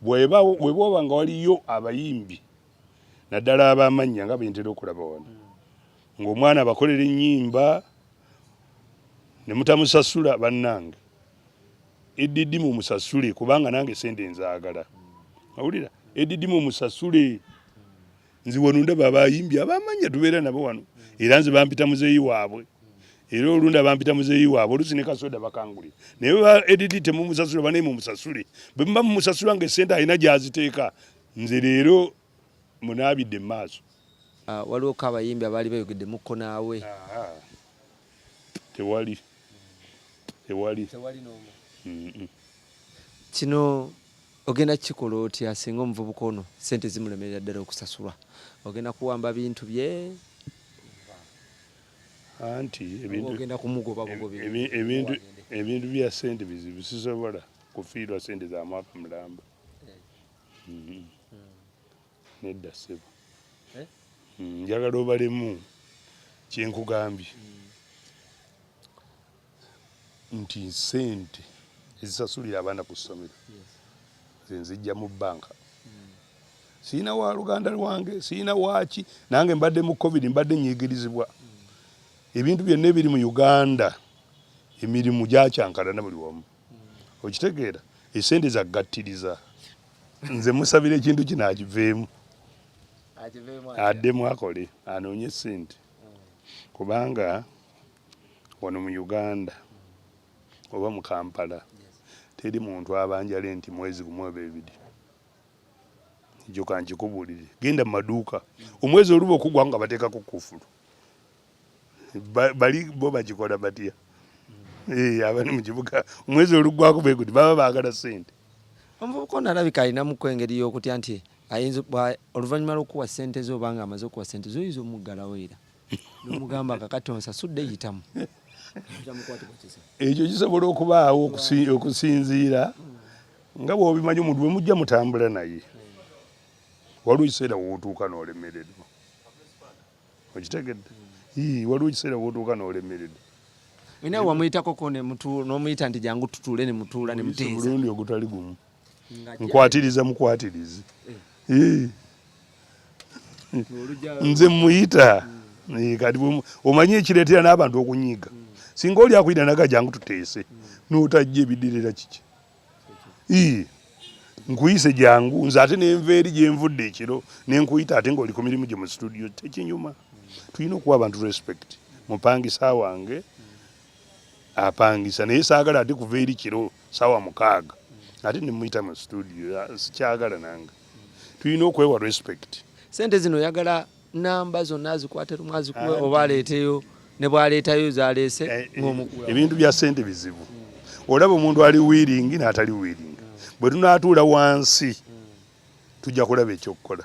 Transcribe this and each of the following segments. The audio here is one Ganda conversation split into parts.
bwebooba nga waliyo abayimbi naddala abamannya nga bentera okulaba wano hmm. ng'omwana abakolera ennyimba ne mutamusasula bannange eddidi mu musasule kubanga nange sente nzaagala hmm. awulira eddidi mu musasule nze wano ndaba abayimbi abamanya tubeera nabo wano era nze bampita muzeeyi waabwe era olunda bampita muzeeyi waabwe olusi ne kasoda bakanguli naye ba edidi temumusasula banaye mumusasule bwe muba mumusasula nga esente alina gyaziteeka nze leero munaabidde mu maaso ah, waliwo ko abayimbi abaali bayogedde mukko naawe tewali tewali kino Ogenda kukikola otya singa omuvubuka ono ssente zimulemerera ddala okusasulwa? Ogenda kuwamba bintu bye? Anti ebintu bya ssente bizibu, sisobola kufiirwa ssente za mwaka mulamba. Eh. Mm-hmm. nedda ssebo eh? hmm, njagala obalemu kyenkugambye hmm. nti sente ezisasulira abaana ku ssomero zenzijja mu bbanka hmm. sirina wa luganda lwange sirina waaki nange mbadde mu covid mbadde nyigirizibwa ebintu byonna ebiri mu uganda emirimu gyakyankalana buli wamu okitegeera esente zagattiriza nze musabira ekintu kino akiveemu addemu akole anoonye sente kubanga wano mu uganda oba mu kampala teri muntu abanja lenti mwezi gumu oba ebiri njoka nkikubuulire genda mu maduuka omwezi oluba okugwa nga bateekako kufulu bali bo bagikola batya eh, abali mu kibuga omwezi oluggwako be guti baba baagala ssente omuvubuka ono alabika alinamuko engeri y'okutya nti ayinza oluvannyuma lw'okuwa ssente ze obanga amaze okuwa ssente zoyinza omuggalawo era nomugamba kakati onsasudde yitamu ekyo kisobola okubaawo okusinziira nga bwobimanyi omuntu bwemujja mutambula naye waliwo ekiseera wotuuka nolemererwa okitegedde ii waliwo ekiseera wotuuka nolemerede ina wamuyitakoko nomuyita nti jangu tutuule nemutuula nemuteezaomulundi ogutali gumu nkwatiriza mukwatirizi eh. nze muyita eh, kati omanyi ekireetera n'abantu okunyiiga hmm. singa oli akuyita naga jangu tuteese hmm. notajja ebidirira kiki ii nkuyise jangu nze ate nenva eri gyenvudde ekiro nenkuyita ate ngaoli ku mirimu gye mu situdiyo tekinyuma tulina okuwa abantu respect mupangi sawange apangisa naye saagala ate kuva eri kiro saawa mukaaga ate nemuyita mu studio sikyagala nange tulina okwewa respect sente zino oyagala namba zonna azikwate lumu azikuwe oba aleeteyo ne bw'aleetayo zaleese eh, eh, ng'omukuwa ebintu bya ssente bizibu olaba omuntu ali wiiringi n'atali wiiringi bwe tunaatuula wansi tujja kulaba ekyokukola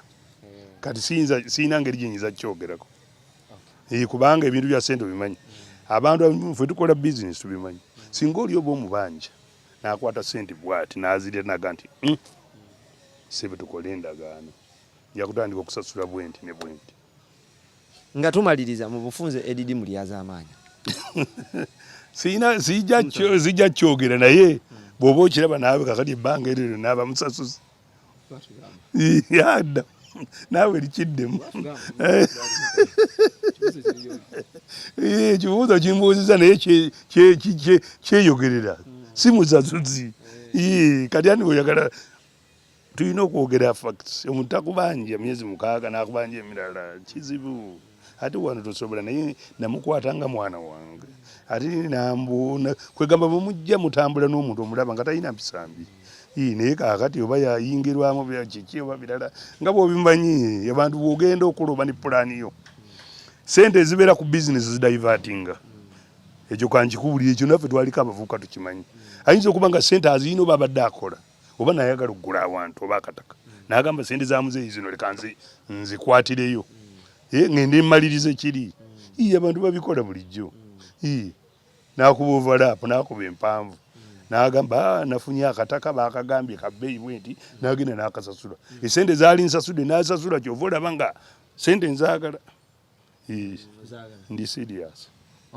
kati siyina ngeri gyenyinza kukyogerako eh, kubanga ebintu bya ssente obimanyi abantu fe tukola bizinesi tubimanyi singa oli oba omubanja n'akwata ssente bwati n'azirya naga nti hmm, sebe tukole endagaano nja kutandika okusasula bwenti ne bwenti nga tumaliriza mu bufunze edidi mulyazaamaanya siyina zijja kyogera naye bw'oba okiraba naawe kakati ebbanga eryo lyonna aba musasuzi yadda naawe likiddemu ekibuuzo eh, kimbuuziza naye kyeyogerera si musasuzi eh, kati ani oyagala tulina okwogera facts omuntu takubanja myezi mukaaga nakubanja emirala kizibu ate wano tosobola naye namukwata nga mwana wange ate nambu kwegamba bwemujja mutambula n'omuntu omulaba nga talina mpisambi naye kakati oba yayingirwamu kiki oba birala nga bwobimanyi abantu bwogenda okuloba ne pulaani yo sente ezibeera ku bizinesi zidivatinga ekyo kankikubulira ekyo naffe twaliko abavubuka tukimanyi ayinza okuba nga sente aziyina oba abadde akola oba nayagala okugula awantu oba akataka nagamba sente za muzeeyi zino leka nzikwatireyo mm. eh, ngende mmaliriza ekiri mm. ii abantu babikola bulijjo mm. ii nakuba ovalaapu nakuba empanvu nagamba ah, nafunye akataka bakagambye kabeeyi bwe nti nagenda nakasasula esente zaali nsasude nasasula kyova olaba nga sente nzagala ndi serious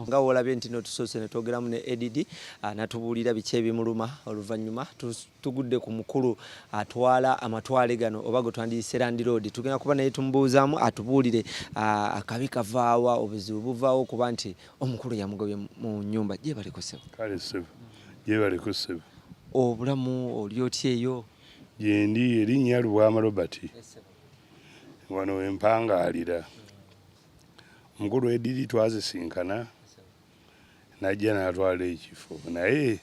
nga wolabye nti notusoose netwogeramu ne add ah, natubuulira biki ebimuluma oluvannyuma tugudde ku mukulu atwala amatwale gano oba gwe twandiyise landiroodi tugenda kuba naye tumubuuzaamu atubuulire ah, akabi kavaawa obuzibu buvaawo okuba nti omukulu yamugobye mu nyumba gyebaleko sebo kale sebo gyebaleko sebo obulamu oli otya eyo gyendi erinnya lubwama robert wano wempangaalira omukulu ediri twazisinkana najja natwala ekifo naye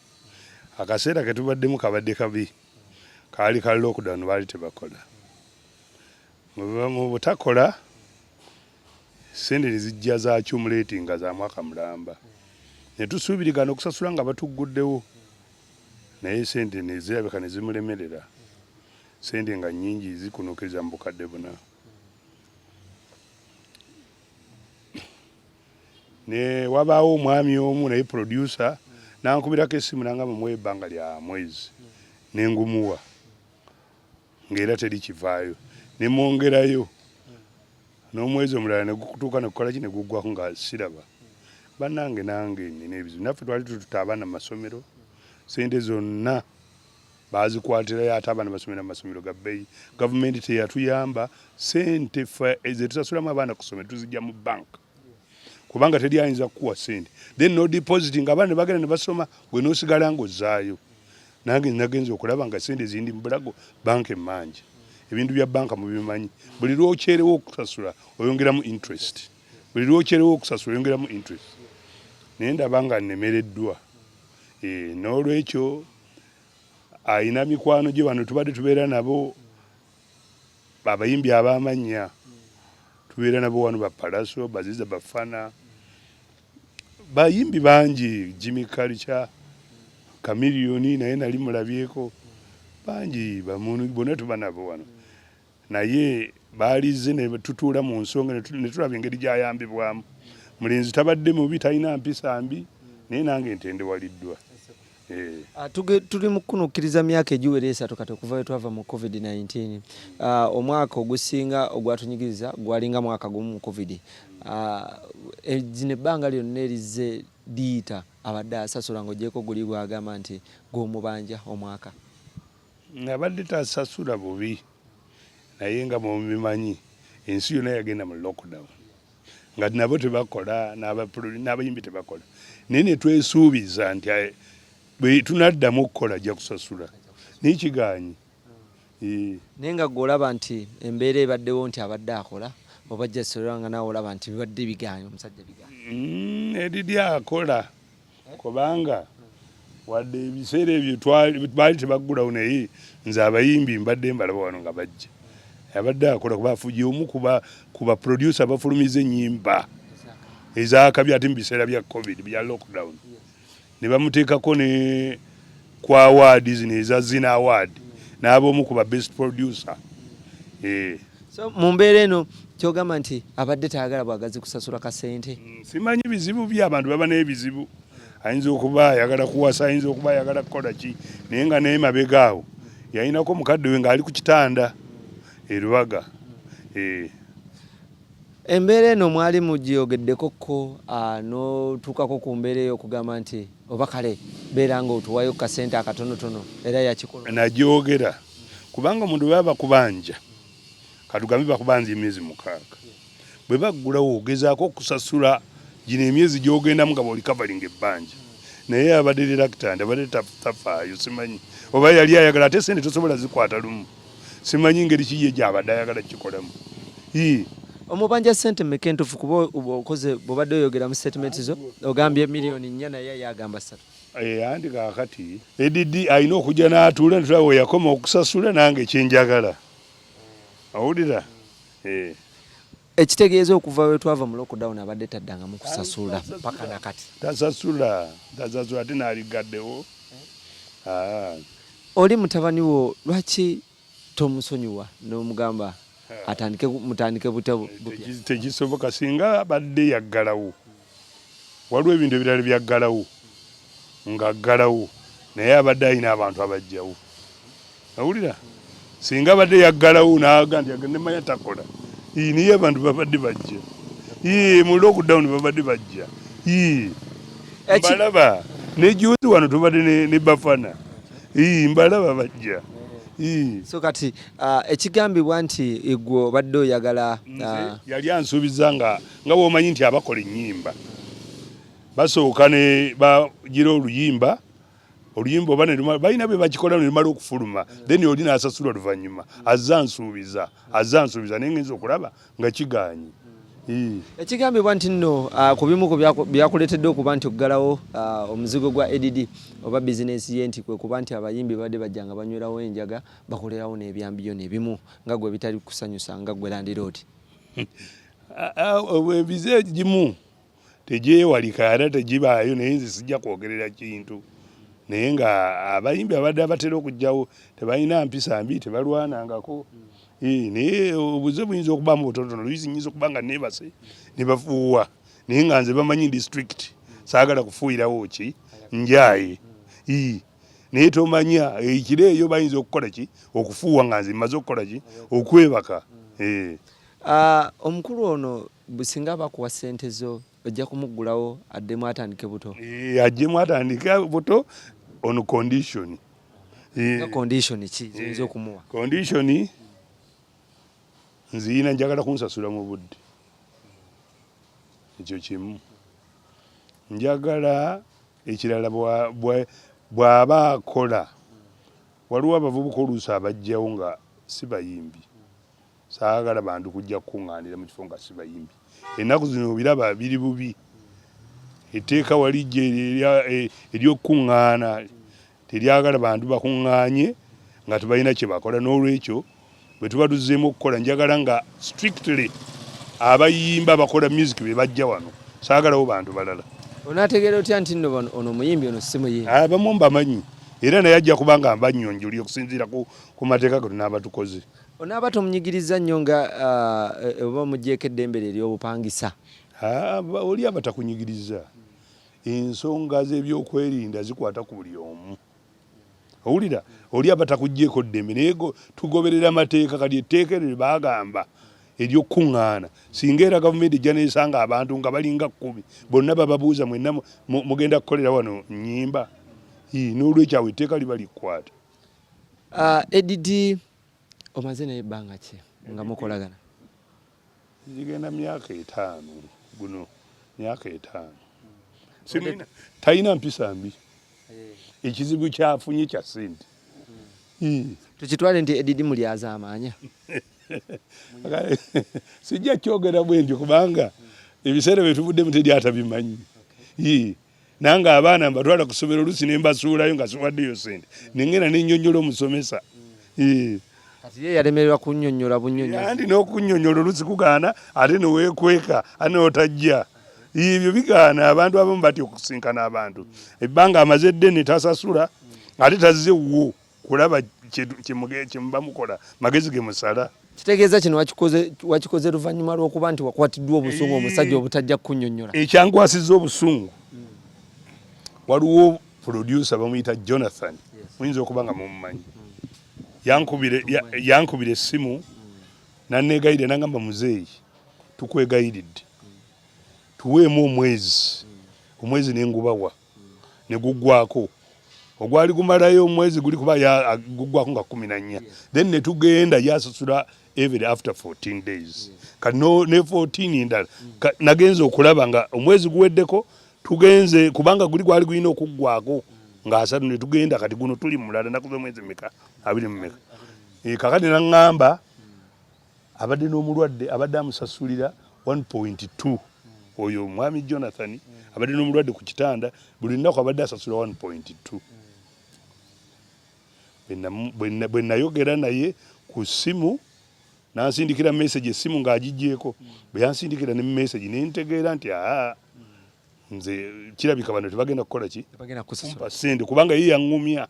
akaseera ketubaddemu kabadde kabi kaali ka lockdown baali tebakola mu butakola sente nezijja za cumuleti nga za mwaka mulamba netusuubirigana okusasula nga batugguddewo naye sente nezirabika nezimulemerera sente nga nyingi zikunokeza mu bukadde buna ne wabaawo omwami omu naye producer nankubirako esimu nanga mumuwa ebbanga lya mwezi nengumuwa ngaera teri kivaayo nemwongerayo n'omwezi omulala negukutuuka nekukolaki negugwaku nga siraba banange nange nina ebizibu naffe twali tututa abaana mu masomero sente zonna bazikwatirayo ate abaana basomera mu masomero ga bbeeyi gavumenti teyatuyamba sente zetusasulamu abaana kusomero tuzijja mu bank kubanga teri ayinza kukuwa sente then no deposit nga abaana nebagenda nebasoma gwe nosigala nga ozaayo nange nagenza okulaba nga sente zindi mubulago bank emangi ebintu bya banka mubimanyi buli lwokyerewo okusasula oyongeramu interest buli lwokyerewo okusasula oyongeramu interest naye ndaba nga nemereddwa eh, n'olwekyo alina mikwano gye bano tubadde tubeera nabo abayimbi abamannya tubeera nabo wano bapalaso baziza bafana bayimbi bangi jimmy culture kamiliyoni naye nali mulabyeko bangi bona tuba nabo wano naye baalizze ne tutuula mu nsonga ne tulaba engeri gy'ayambibwamu. Mulenzi tabadde mubi, talina mpisa mbi, naye nange ntendewaliddwa. Eh. Ah, tuli mukunukkiriza myaka egiwera esatu kati okuva wetwava mu covid-19 ah, omwaka ogusinga ogwatunyigiriza gwalinga mwaka gumu mu covid ah, e, zino ebbanga lyonna erizze liyita abadde asasula ngaogyeko guli gwagamba nti gwomubanja omwaka abadde tasasula bubi naye nga mubimanyi ensi yona yagenda mu lockdown nga nabo tebakola n'abayimbi tebakola naye netwesuubiza nti eh, bwetunaddamu okukola ajja kusasula naye kiganyi eh. naye nga gwe olaba nti embeera ebaddewo nti abadde akola oba jasolera nga nawe olaba nti bibadde bigaanyi omusajja bigaanyi mm, eriri akola kubanga wadde ebiseera ebyo baali tebaggulawo naye nze abayimbi mbadde mbalaba wano nga bajja abadde akola kuba afuye omu ku baproducer abafulumiza ennyimba ezakabi ate mu biseera bya covid bya lockdown ne bamuteekako ne ku awaadi zino eza Zina Award n'aba omu ku ba best producer. Eh. So mu mbeera eno kyogamba nti abadde tayagala bwagazi kusasula kasente? Mm, simanyi bizibu bye abantu baba n'ebizibu. Ayinza okuba ayagala kuwasa, ayinza okuba ayagala kukola ki naye nga naye mabega awo yalinako mukadde we ng'ali ku kitanda e Lubaga. Eh. Embeera eno mwali mugyogeddeko ko ah, n'otuukako ku mbeera eyo okugamba nti oba kale beera nga otuwayo kasente akatonotono era yakikola nagyogera kubanga omuntu bwe baba bakubanja katugambe bakubanja emyezi mukaaga bwe baggulawo ogezaako okusasula gino emyezi gyogendamu nga boli kavalinga ebbanja naye abadde lilakitandi abadde tafaayo simanyi oba yali ayagala ate sente tosobola zikwata lumu simanyi ngeri ki ye gyabadde ayagala kukikolamu ii omubanja sente meka entufu kuba okoze bwobadde oyogera mu statement zo ogambye miliyoni nnya naye yagamba satu eh, anti kakati edd alina okujja n'atuula netulaba weyakoma okusasula nange kyenjagala awulira eh. Ekitegeeza okuva we twava mu lockdown abadde taddangamu kusasula mpaka na kati. Tasasula, tasasula ate n'aliggaddewo. Ah. Oli mutabani wo lwaki tomusonyiwa n'omugamba atandike mutandike butya? Tekisoboka singa abadde yaggalawo Waliwo ebintu ebirala byaggalawo ng'aggalawo naye abadde alina abantu abajjawo. Awulira singa abadde yaggalawo n'aga nti nemanya takola ii naye abantu babadde bajja ii mu lockdown babadde bajja ii mbalaba ne juzi wano tubadde ne bafana ii mbalaba bajja ii so kati uh, ekigambibwa nti igwe obadde oyagala uh, yali ansuubiza nga nga womanyi nti abakola enyimba basooka ne bagira oluyimba oluyimba oba balina bwe bakikola nelumala okufuluma then oli nasasulwa luvanyuma azza nsuubiza azza nsuubiza naye ngenza okulaba nga kigaanyi ekigambibwa nti nno ah, ku bimu ku byakuleetedde okuba nti okugalawo ah, omuzigo gwa add oba bizinensi ye nti kwe kuba nti abayimbi badde bajja nga banywerawo enjaga bakolerawo n'ebyambiyo nebimu nga gwe bitali kusanyusa nga gwe landiroodi ebize egimu tegyewalika era tegibaayo naye nze sijja kwogerera kintu naye nga abayimbi abadde abatera okujjawo tebalina mpisa mbi tebalwanangako hmm. naye obuze buyinza okubamu butonotono luyisi nyinza okuba nga nebase nebafuuwa naye nga nze bamanyi district saagala kufuuyirawo ki njaye hmm. naye tomanya ekiro eh, eyo bayinza okukola ki okufuuwa nga nze mmaze okukola ki okwebaka eh. ah, omukulu ono singa bakuwa sente zo ojja kumuggulawo addemu atandike buto eh, ajjemu atandike buto on condition condition ki ziyinza okumuwa condition nziyina njagala kunsasula mu budde ekyo kimu njagala ekirala bw'aba akola waliwo abavubuka oluusi abajjawo nga si bayimbi saagala bantu kujja kukuŋŋaanira mu kifo nga si bayimbi ennaku zino obiraba biri bubi etteeka walijja e, ery'okukuŋŋaana Teryagala bantu bakuŋŋaanye nga tebalina kye bakola n'olwekyo bwe tuba tuzzeemu okukola njagala nga strictly abayimba abakola music be bajja wano saagalawo bantu balala. Onaategeera otya nti nno ono omuyimbi ono si muyimbi? Abamu ah, mbamanyi era naye ajja kuba nga mbanyonjoli okusinziira ku mateeka ge tunaaba tukoze. Onaaba tomunyigirizza nnyo nga ah, e, oba omuggyeko eddembe lye ery'obupangisa? Ah, oli aba takunyigirizza. ensonga z'ebyokwerinda zikwata ku buli omu owulira oli aba takuggyeko ddembe naye tugoberera amateeka kati etteeka eryo lye baagamba ery'okukuŋŋaana singa era gavumenti ejja neesanga abantu nga balinga kkumi bonna bababuuza mwenna mugenda kukolera wano nnyimba n'olwekyo awo etteeka liba likwata ah, edidi omaze naye ebbanga ki nga mukolagana zigenda myaka etaano guno myaka etaano talina mpisa mbi eh. ekizibu kyafunye kya sente hmm. tukitwale nti edidi mulyaza amaanya sijja kyogera bwentyo kubanga ebiseera byetuvuddemu teri atabimanyi nange abaana mbatwala ku ssomero oluusi ne mbasuulayo nga siwaddeyo sente nengenda ne nnyonnyola omusomesa hmm. kati ye yalemererwa kunnyonnyola bunnyonnyozi anti n'okunnyonnyola oluusi kugaana ate ne weekweka ate n'otajja ebyo bigaana abantu abamu batya okusinkana abantu ebbanga amaze eddene tasasula ate tazze wuwo kulaba kyemubamukola magezi ge musala kitegeeza kino wakikoze luvannyuma lw'okuba nti wakwatiddwa obusungu omusajja obutajja kukunyonyola ekyankwasiza obusungu waliwo producer bamuyita jonathan muyinza okuba nga mumumanyi yankubira essimu nanegayirira nangamba muzeeyi tukwegayiridde tuweemu omwezi omwezi nengubawa ne guggwako ogwali gumalayo omwezi guli kuba guggwako nga kumi na nnya then ne tugenda yasasula every after 14 days kati ne 14 endala nagenze okulaba nga omwezi guweddeko tugenze kubanga guli gwali gulina okuggwako ng'asatu ne tugenda kati guno tuli mulala nakuza omwezi meka abiri mu meka eh, kakati naŋŋamba abadde n'omulwadde abadde amusasulira 1.2 oyo omwami jonathan mm. abadde n'omulwadde ku kitanda buli lunaku abadde asasula 1.2 mm. bwe nayogera naye ku ssimu nansindikira message essimu ng'agigyeko mm. bwe yansindikira ne message ne ntegeera nti aa nze kirabika bano tebagenda kukola ki kumpa ssente kubanga ye yaŋŋumya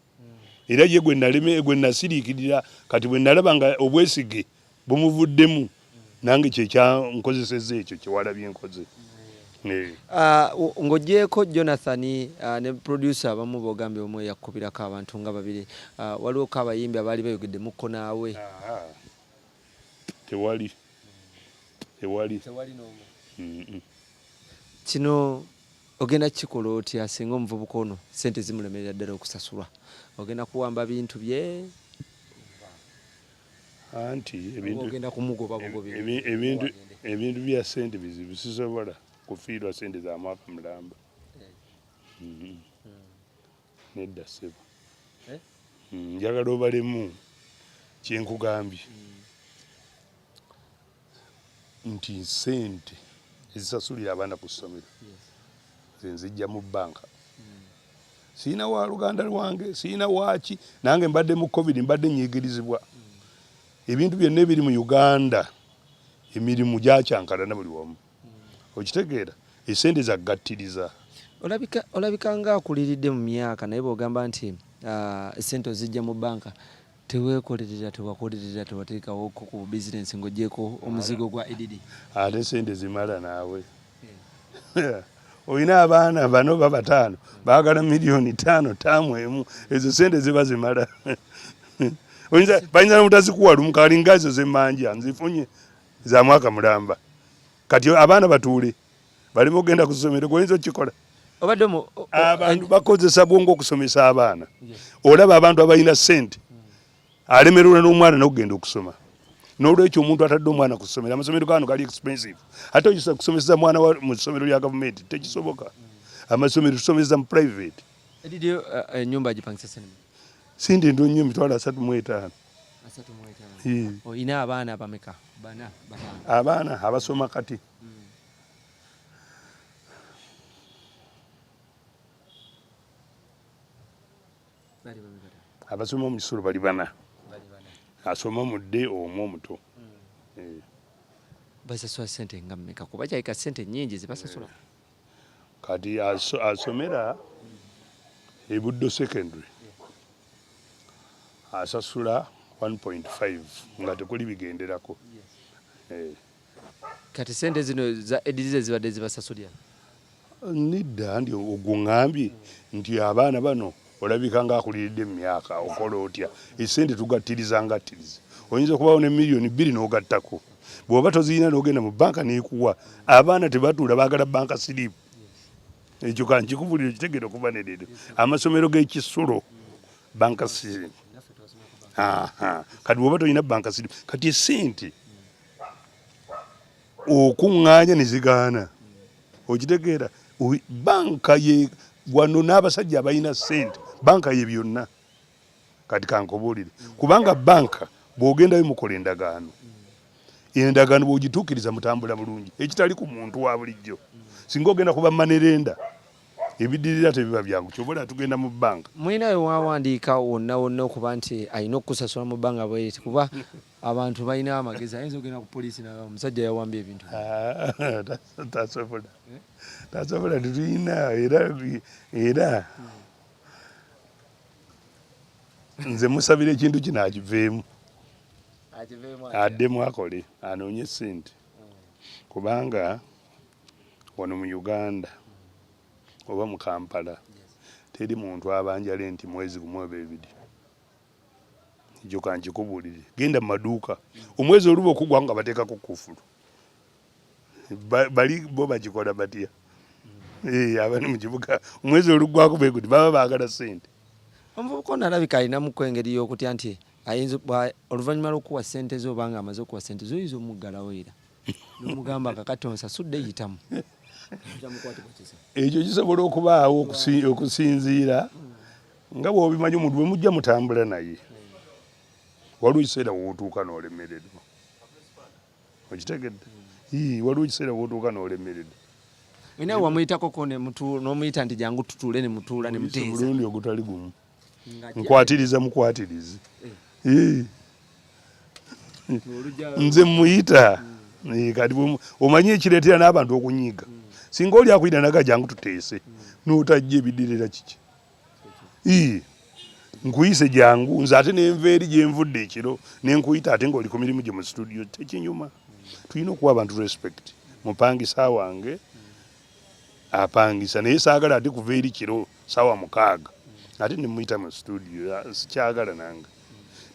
era ye gwe naleme gwe nasiriikirira kati bwe nalaba nga obwesige bumuvuddemu nange kyekyankozeseza ekyo kyewalabye nkoze ah, ng'ogyeko jonathan ah, ne producer abamu bogambye omu eyakubirako abantu nga babiri ah, waliwoko abayimbi abaali bayogedde mukko naawe tewali tewali kino Ogenda kikola otya singa omuvubuka ono sente zimulemerera ddala okusasulwa? Ogenda kuwamba bintu bye anti ebintu bya sente bizibu sisobola kufiirwa sente za mwaka mulamba eh. mm-hmm. hmm. nedda sebo eh? hmm, njagala obalemu kyenkugambye hmm. nti sente ezisasulira abaana ku ssomero zenzijja mu bbanka sirina wa luganda lwange sirina waaki nange mbadde mu covid mbadde nyigirizibwa ebintu byonna ebiri mu uganda emirimu gyakyankalana buli wamu okitegeera esente zaggattiriza olabika nga akuliridde mu myaka naye bwogamba nti ah, sente ozijja mu bbanka Tewekolerera, tewakolerera, tewateekawo ko ku business ng'ogyeko omuzigo gwa EDD. Ate sente zimala naawe. Eh. Olina abaana bano babataano baagala miliyoni taano taamu emu ezo sente ziba zimala. Bayinza nomutazikuwa lumu kalinga ezo zemanja nzifunye za mwaka mulamba. kati abaana batuule baleme ogenda ku ssomero goyinza okukikola abantu bakozesa bwongo okusomesa abaana olaba abantu abalina sente alemererwa n'omwana nokugenda okusoma nolwekyo omuntu atadde omwana ku ssomero amasomero gano gali expensive ate oyisa kusomesa mwana mu ssomero lya gavumenti tekisoboka amasomero tusomesa mu private enyumba eh, eh, agipangisa sinema sindi ndu nyo emitwalo asatu mu etaano hmm. olina abaana abameka bana abaana abasoma kati abasoma mu kisulo bali bana asoma omudde omu omuto hmm. eh. basasula sente nga mmeka kuba kyayika sente nyingi zibasasula kati asomera e Buddo secondary asasula 1.5 nga tekuli bigenderako eh. kati sente zino za edizize zibadde zibasasulira nidda ndi ogwo ŋambye nti abaana bano olabika nga akuliridde emyaka okola otya esente tugattiriza ngattiriza oyinza okubawo ne miliyoni bbiri n'ogattako bw'oba tozirina n'ogenda mu banka n'ekuwa abaana tebatuula baagala banka siriipu ekyo kankikubuliro kitegere okuva nederero amasomero g'ekisulo banka siriipu kati bw'oba tolina banka siriipu kati esente okuŋŋaanya ne zigaana okitegeera banka ye wano n'abasajja abalina sente banka ye byonna kati kankubuulire kubanga banka bw'ogendayo mukola endagaano endagaano bw'ogituukiriza mutambula bulungi ekitali ku muntu wa bulijjo singa ogenda kuba manerenda ebidirira tebiba byangu kyobola tugenda mu banka mulina wewawandiika wonna wonna okuba nti alina okukusasula mu bbanga bweti kuba Abantu balina amagezi ayinza ogenda ku poliisi naga omusajja yawambye ebintu tasobola tasobola tetulina era era nze musabira ekintu kino akiveemu addemu akole anoonye sente kubanga wano mu uganda oba mu kampala teri muntu abanjala enti mwezi gumu oba ebiri ekyo kankikubuulire genda mu maduuka omwezi oluba okugwa nga bateekako kufulu bali bo bagikola batya eh, abali mu kibuga omwezi oluggwako beguti baba baagala sente omuvubuka ono alabika alinamuko engeri y'okutya nti ayinza oluvannyuma lw'okuwa sente ze obanga amaze okuwa sente ze oyinza omuggalawo era nomugamba kakati onsasudde yitamu ekyo kisobola okubaawo okusinziira nga bwobimanyi omuntu bwemujja mutambula naye waliwo ekiseera wotuuka nolemererwa okitegedde waliwo ekiseera wotuuka nolemererwa naye wamuyitakoko nomuyita nti jangu tutuule nemutuula nemuteezaomulundi ogutali gumu nkwatiriza mukwatirizi eh. nze muyita hmm. eh, kati omanyi ekireetera n'abantu okunyiiga hmm. singa oli akuyita naga jangu tuteese hmm. notajja ebidirira kiki ii nkuyise jangu nze ate nenva eri gyenvudde ekiro nenkuyita ate ngaoli ku mirimu gye mu situdiyo tekinyuma tulina okuwa abantu respect mupangisa wange apangisa naye saagala ate kuva eri kiro saawa mukaaga ate nemuyita mu situdiyo sikyagala nange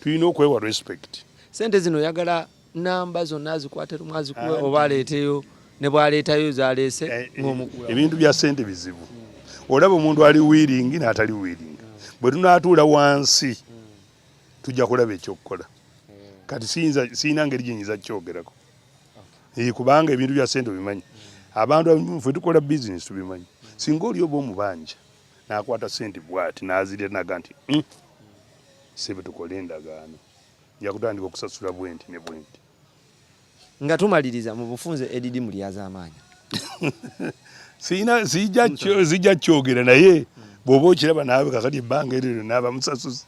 tulina okwewa respect sente zino oyagala namba zonna azikwate lumu azikuwe oba aleeteyo ne bwaleetayo zaleese eh, ngaomukuwa ebintu bya sente bizibu olaba omuntu ali wiiringi n'atali wiiringi bwe tunaatuula wansi tujja kulaba ekyokukola kati siyina ngeri gyenyinza kukyogerako kubanga ebintu bya sente obimanyi abantu fe tukola bizinesi tubimanyi singa oli oba omubanja nakwata sente bwati nazirya naga nti hmm, sebe tukole endagaano nja kutandika okusasula bwenti ne bwenti nga tumaliriza mu bufunze edidi mu lyazaamaanya zijja kyogera naye bw'oba okiraba naawe kakati ebbanga eryo lyonna aba musasuzi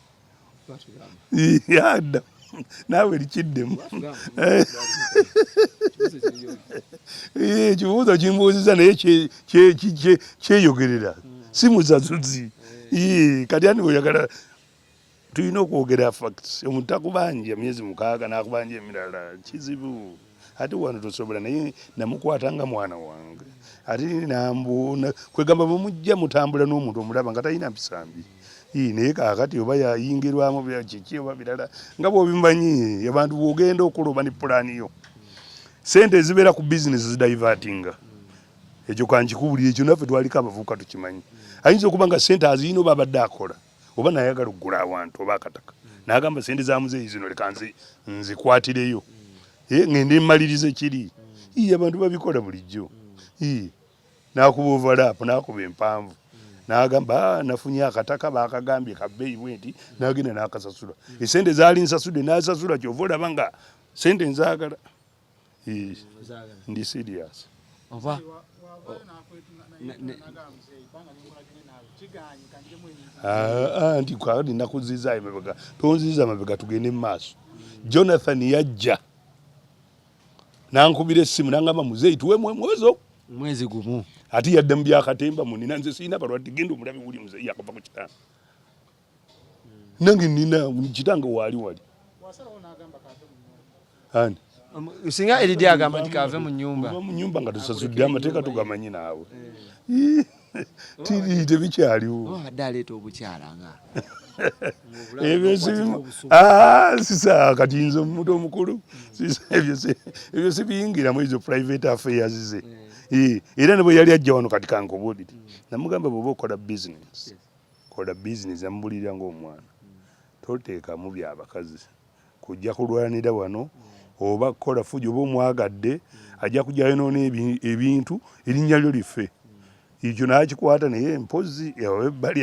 yadda naawe likiddemu ekibuuzo kimbuuziza naye kyeyogerera si musasuzi kati ani oyagala tulina okwogera facts omuntu takubanja myezi mukaaga nakubanja emirala kizibu ate wano tosobola naye namukwata nga mwana wange ate nambuuna kwegamba bwemujja mutambula n'omuntu omulaba nga talina mpisambi naye kakati oba yayingirwamu kiki oba birala nga bwobimanyi abantu bwogenda okuloba ne pulaani yo sente ezibeera ku bizinesi zidivatinga ekyo kankikubulira ekyo naffe twaliko abavubuka tukimanyi ayinza okuba nga sente aziyina oba abadde akola oba nayagala okugula awantu oba akataka nagamba sente za muzeeyi zino leka nzikwatireyo eh, ngende mmalirize kiri iye abantu babikola bulijjo nakuba ovalaapu nakuba empanvu nagamba ah, nafunye akataka bakagambye kabeeyi bwenti nagenda nakasasula esente zaali nsasude nasasula kyova olaba nga sente nzagala ndi serious oba ah, ah, nti kwali nakuziza emabega tonziza mabega tugende mu maaso jonathan yajja nankubira essimu nangamba muzeeyi tuwe mwezo mwezi gumu ati yadda mu byakatemba munina nze sirina balwadde genda omulabi wuli muzeeyi yakuva ku kitanda nange nina kitange waali wali ani singa eridi agamba nti kave mu nyumba mu nyumba nga tusasudde amateeka tugamanyi naawe eh. tiri tebikyaliwo abadde aleeta obukyala nga ebyo ah, sisa kati nze omuntu omukulu ebyo sibiyingiramu ezo private affairs ze eh. Eh, era ne bwe yali ajja wano kati kankobuulire namugamba bweoba okola business kola business amubulirira nga omwana totekamu bya bakazi kujja kulwanira wano oba kola fujo oba omwagadde ajja kujja yonona ebintu erinnya lyo life ekyo nakikwata naye mpozi ebbali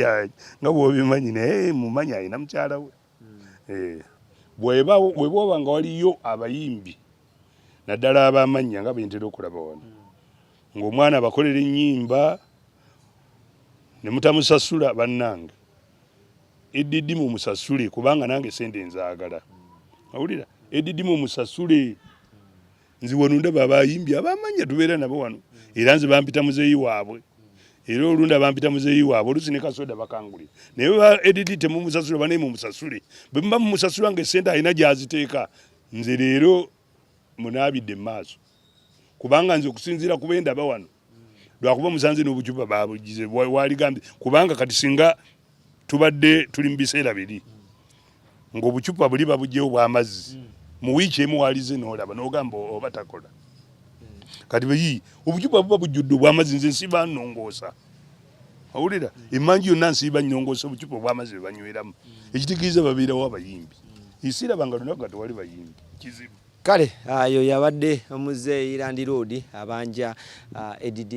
nga bwobimanyi naye mumanyi alina mukyala we eh, bwebwoba nga waliyo abayimbi naddala abamannya nga bentera okulaba wano ngaomwana abakolera ennyimba ne mutamusasula bannange edidi mumusasule kubanga nange sente nzaagala awulira edidi mumusasule nze wano ndaba abayimbi abamanya tubeera nabo wano era nze bampita muzeeyi waabwe era olunda bampita muzeeyi waabwe olusi ne kasoda bakanguli naye ba edidi temumusasule banaye mumusasule bwe muba mumusasula nga esente alina gyaziteeka nze leero munaabidde mu maaso kubanga nze okusinziira ku bendaba wano lwakuba musanze n'obucupa babugize waligambye kubanga kati singa tubadde tuli mu biseera biri ng'obucupa buli babugyewo bw'amazzi mu wiiki emu walize n'olaba n'ogamba oba takola kati beyi obucupa buba bujjudde obw'amazzi nze nsiba nnongoosa awulira emanju yonna nsiiba nyongoosa obucupa obwamazzi bwe banyweramu ekitegeza babeerawo abayimbi isiraba nga lunaku nga tewali bayimbi kizibu kale ayo ah, yabadde omuzeeyi landiroodi abanja ah, edd